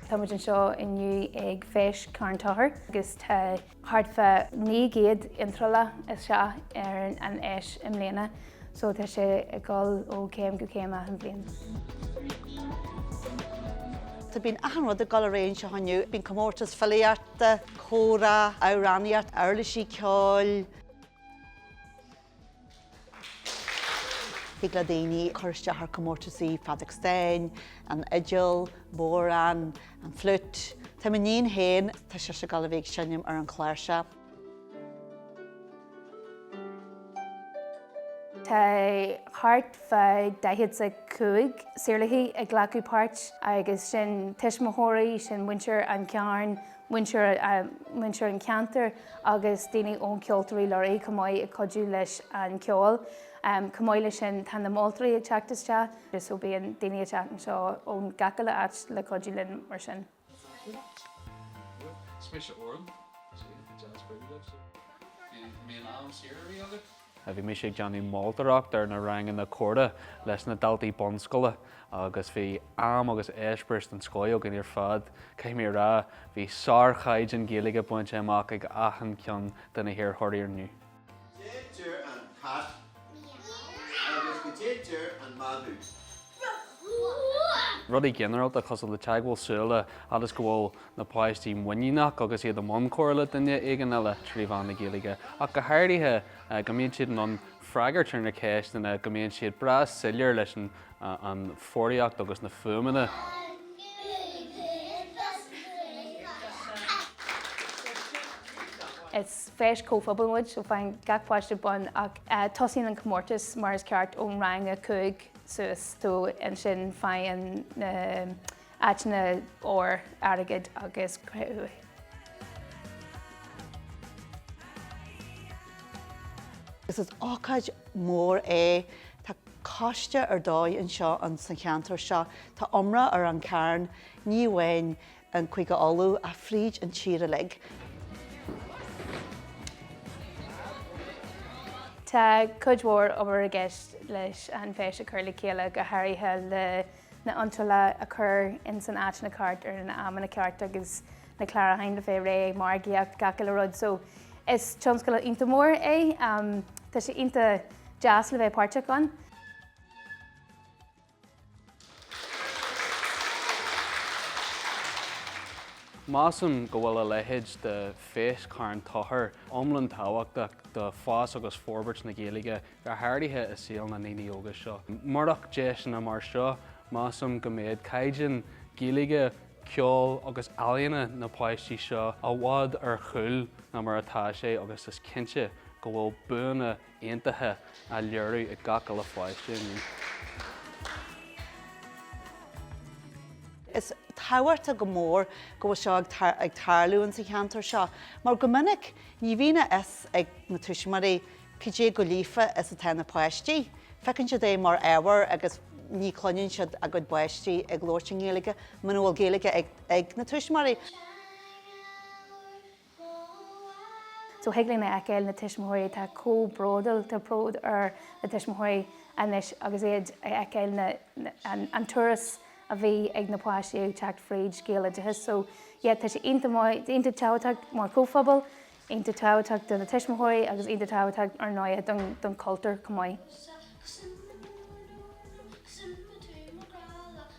Tá muid anseo inniu ag Feis Charn Tochair agus tá thart fá 900 iontráil isteach ar an fheis i mbliana, so tá sé ag dul ó chéim go céim achan bhliain. Tá bíonn achan rud ag dul ar aghaidh anseo inniu, bíonn comórtas filíochta, comhrá, amhránaíocht, uirlisí ceoil, Thig le daoine cur isteach ar chomórtaisí feadóg stáin, an fhidil, bodhrán, an fliút. Tá m'iníon féin, tá sise ag dul a bheith ag seinm ar an chláirseach. Tá thart fá 45 saorálaí ag glacadh páirt agus sin tuismitheoirí, sin muintir an Chairn, muintir an cheantair agus daoine ó Cheoltóirí Lúraigh chomh maith ag cuidiú leis an cheol. Chomh maith leis sin tá na moltóirí ag teacht isteach so bíonn daoine ag teacht anseo ón gach uile áit le cuidiú linn mar sin. Bhí mise ag déanamh moltóireacht ar na ranganna comhrá leis na daltaí bunscoile agus bhí am agus eispéireas den scoth againn ar fad. Caithfidh mé a rá, bhí sárchaighdeán Gaeilge bainte amach ag achan cheann de na hiarrthóirí inniu. Rudaí ginearálta cosúil le teagmháil súile fhad is go bhfuil na páistí muiníneach agus iad i mbun comhrá le duine éigin eile trí mheán na Gaeilge, ach go háirithe, go mbíonn siad in ann freagairt ar na ceisteanna, go mbíonn siad breá soiléir leis an bhfoghraíocht agus na fuaimeanna. Is feis chomhphobail muid, so faigheann gach páiste bonn ach tosaíonn an comórtas mar is ceart ón rang a cúig suas, so ansin faigheann na. Áiteanna óir, airgid agus cré-umha. Is ócáid mhór é. Tá coiste ar dóigh anseo insa cheantar seo. Tá iomrá ar an Charn, ní amháin i gCúige Uladh ach fríd an tír uilig. Tá cuid mhór obair i gceist leis an fheis a chur le chéile, go háirithe le na iontrála a chur ins na háiteanna ceart ar na hamanna cearta agus na clárúcháin le bheith réidh, margaíocht, gach uile rud. So is tionscadal iontach mór é. Tá sé iontach deas le bheith páirteach ann. Measaim go bhfuil a leithéid de Fheis Charn Tochair iomlán tábhachtach do fhás agus forbairt na Gaeilge go háirithe i saol na ndaoine óga seo. Murach deiseanna mar seo, measaim go mbeadh caighdeán Gaeilge ceoil agus ealaíona na bpáistí seo i bhfad ar gcúl ná mar atá sé agus is cinnte go bhfuil buanna iontacha á léiriú ag gach uile pháiste inniu. Is tábhachtach go mór go bhfuil seo ag tarlú insa cheantar seo mar go minic ní bhíonn a fhios ag na tuismitheoirí Cad é go líofa is atá na páistí. Feiceann siad í mar ábhar agus ní chluineann siad a gcuid páistí ag labhairt i nGaeilge muna bhfuil Gaeilge ag na tuismitheoirí. So thig linn a fheiceáil na tuismitheoirí atá chomh bródúil, tá bród ar na tuismitheoirí anois agus iad ag feiceáil an turas a bhí ag na páistí ag teacht fríd gaeloideachas. So yeah tá sé iontach maith, iontach tábhachtach mar chomhphobal iontach tábhachtach do na tuismitheoirí agus iontach tábhachtach, ar ndóigh, don chultúr chomh maith.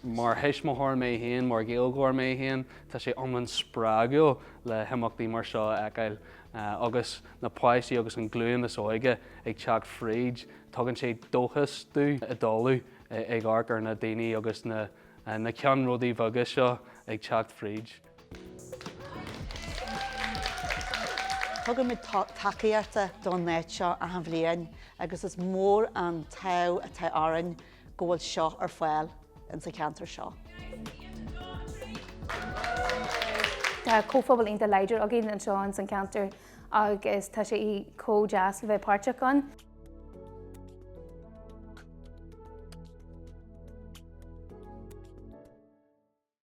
Mar thuismitheoir mé féin, mar Ghaeilgeoir mé féin, tá sé iomlán spreagúil le himeachtaí mar seo a fheiceáil agus na páistí agus an ghlúin is óige ag teacht fríd. Tugann sé dóchas dúinn i dtólamh ag amharc ar na daoine agus na ceannródaithe beaga seo ag teacht fríd. Tugann muid tacaíocht don fhéile seo achan bhliain agus is mór an t-am atá orainn go bhfuil seo ar fáil insa cheantar seo. Tá comhphobal iontach láidir againn anseo insan cheantar agus tá sé chomh deas le bheith páirteach ann.